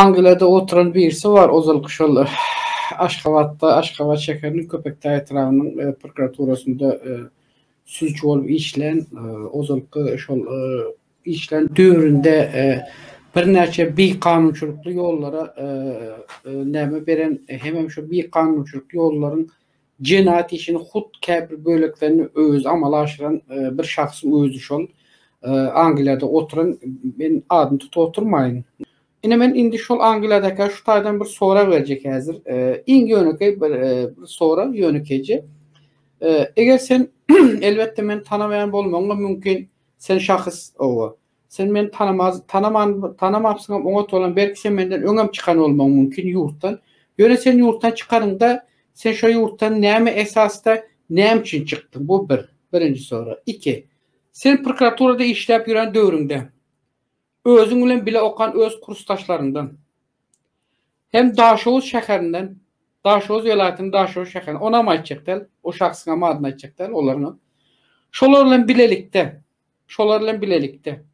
Angliýada oturan birisi bar, ozalky şol Aşgabatda, Aşgabat şäheriniň Köpetdag etrabynyň prokuraturasynda sudçy bolup işlän, ozalky şol işlän döwründe birnäçe bikanunçylykly ýollara näme beren, hemem şu bikanunçylykly ýollaryň Jenaýat işini hut käbir böleklerini özi amala aşyran bir şahsyň özi şol Angliýada oturan, men adyny tutup oturmaýyn. Ine men indi şol Angliýadakä şu taýdan bir sorag berjek häzir. Iň ýönekeý bir sorag, ýönekeýje. Eger sen, elbetde meni tanaman bolmagyň-a mümkin, sen şahys oba. Sen meni tanamaz, tanaman, tanamapsyňam oňat bolan, belki sen menden öňem çykan bolmagyň mümkin ýurtdan. Ýöne sen ýurtdan çykanyňda, sen şo ýurtdan näme esasda, näme üçin çykdyň? Bu bir, birinji sorag. Iki. Sen prokuraturada işläp ýören döwrüňde, özüň bilen bile okan öz kursdaşlaryňdan, hem Daşoguz şäherinden, Daşoguz welaýatynyň Daşoguz şäherinden, onam aýtjak däl, o şahsyňam adyny aýtjak däl, olaryňam. Şolar bilen bilelikde, Şolar bilen bilelikde,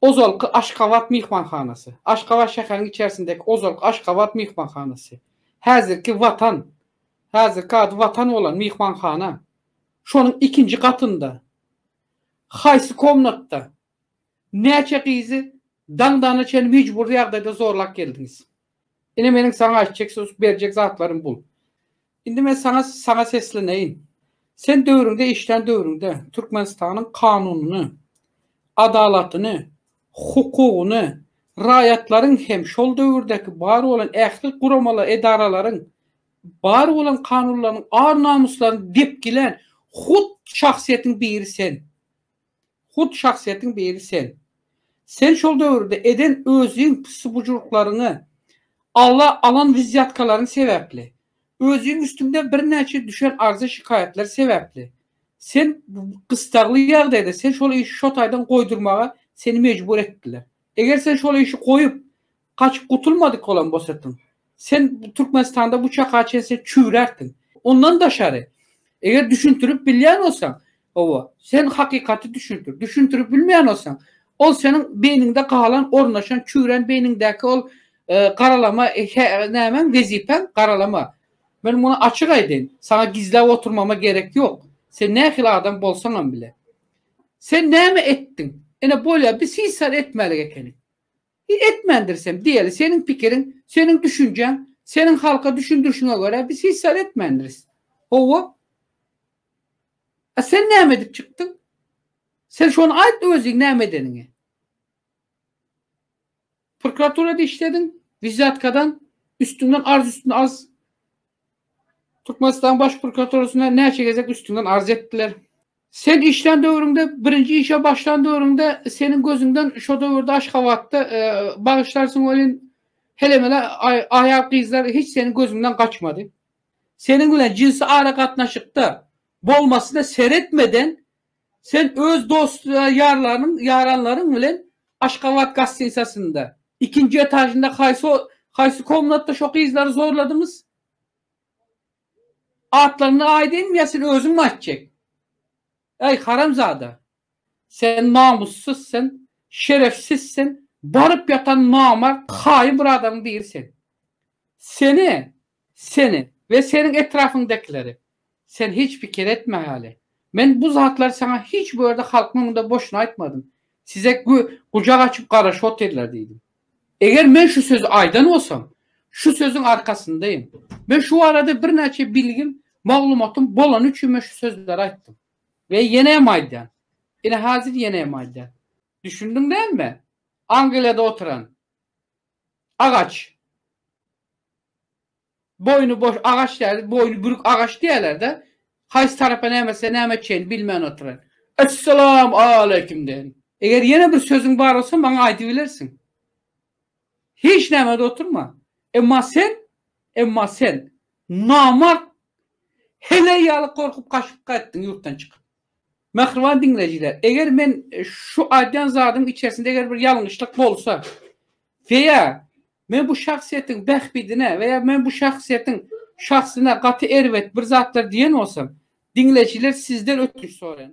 ozalky Aşgabat myhmanhanasy, Aşgabat şäheriniň içerisindäki ozalky Aşgabat myhmanhanasy, häzirki Watan, häzirki ady Watan bolan myhmanhana, şonuň ikinji gatynda, haýsy komnatda, näçe gyzy daňdana çenli mejbury ýagdaýda zorlap geldiňiz? Ine meniň saňa aýtjak söz berjek zatlarym bul. Indi men saňa saňa sesleneýin. Sen döwrüňde işlän döwrüňde Türkmenistanyň kanunyny, adalatyny, hukugyny, raýatlaryň hem şol döwürdäki bar bolan ähli guramala edaralaryň bar bolan kanunlarynyň ar-namyslaryny depgilän hut şahsyýetiň biri sen. Hut şahsyýetiň biri sen. Sen şol döwürde eden özüň pissibujurlyklaryňy, ala alan wizýatkalaryň sebäpli, özüň üstüňde birnäçe düşen arza-şikaýatlar sebäpli, sen gystagly ýagdaýda sen şol işi şo taýdan goýdurmaga seni mejbur etdiler. Eger sen şol işi goýup, Gaçyp gutulmadyk bolan bosatyň, sen Türkmenistanda bu çaka çen sen çüwrärsiň. Ondan daşary, eger düşündirip bilýän bolsaň, hawa, sen hakykaty düşündir. Düşündirip bilmeýän bolsaň, ol seniň beýniňde galan, ornaşan, çüwren beýniňdäki ol garalama nämäň, wezipäň, garalama. Men muny açyk aýdaýyn, saňa gizläp oturmama gerek ýok. Sen nähili adam bolsaňam bile. Sen näme etdiň? Ine bolýar, bir sisar etmälik ekeniň. Biz etmändiris hem diýeli, seniň pikiriň, seniň düşünjäň, seniň halka düşündirişiňe görä biz hiç zat etmändiris. Hawa. A sen näme edip çykdyň? Sen şony aýt özüň näme edeniňi. Prokuraturada işlediň, wizyatkadan, üstüňden arz üstüne arz Türkmenistan baş prokuraturasyna näçe gezek üstüňden arz etdiler. Sen işlän döwrüňde, birinji işe başlan döwrüňde seniň gözüňden şo döwürde Aşgabatda e, bagyşlarsyň welin helemele aýal gyzlar hiç seniň gözüňden gaçmady. Seniň bilen jinsi ara gatnaşykda bolmasyna seretmeden Sen öz dost-ýarlaryň, ýaranlaryň bilen Aşgabat gastinsasynda, ikinji etažynda haýsy, haýsy komnatda şo gyzlary zorladyňyz? Atlaryny aýdaýynmy ýa sen özüňmi aýtjak? Äý, haramzada! Sen namyssyz sen, şerefsiz sen, baryp ýatan namart, haýyn bir adamyň biri sen. Seni Seni we seniň etrapyňdakileri sen hiç pikir etme haly. Men bu zatlary saňa hiç bu ýerde halkyň öňünde boşuna aýtmadym. Size gü, gujak açyp garaşyp otyrlar diýdim. Eger men şu sözi aýdan bolsam, şu sözüň arkasyndaýyn. Men şu barada birnäçe bilgim, maglumatym bolany üçin men şu sözleri aýtdym. We ýene hem aýdýan. Ine hazir ýene hem aýdýan. Düşündiň dälmi? Angliýada oturan. Agaç. Boýny boş agaç däl, boýny bürük agaç diýerler-de. Haýsy tarapa näme etse näme etjegini bilmän oturan. Essalam aleýkum deýin. Eger ýene bir sözüň bar bolsa maňa aýdybilersiň. Hiç näme-de oturma. Emma sen, emma sen, namart, heleý ýaly gorkup gaçyp gaýtdyň ýurtdan çykyp. Mähriban diňleýjiler, eger men şu aýdýan zadyň içersinde eger bir ýalňyşlyk bolsa we ýa men bu şahsyýetiň bähbidine we ýa men bu şahsyýetiň şahsyna gaty erbet bir zatlar diýen bolsam, diňleýjiler sizden ötünç soraýan.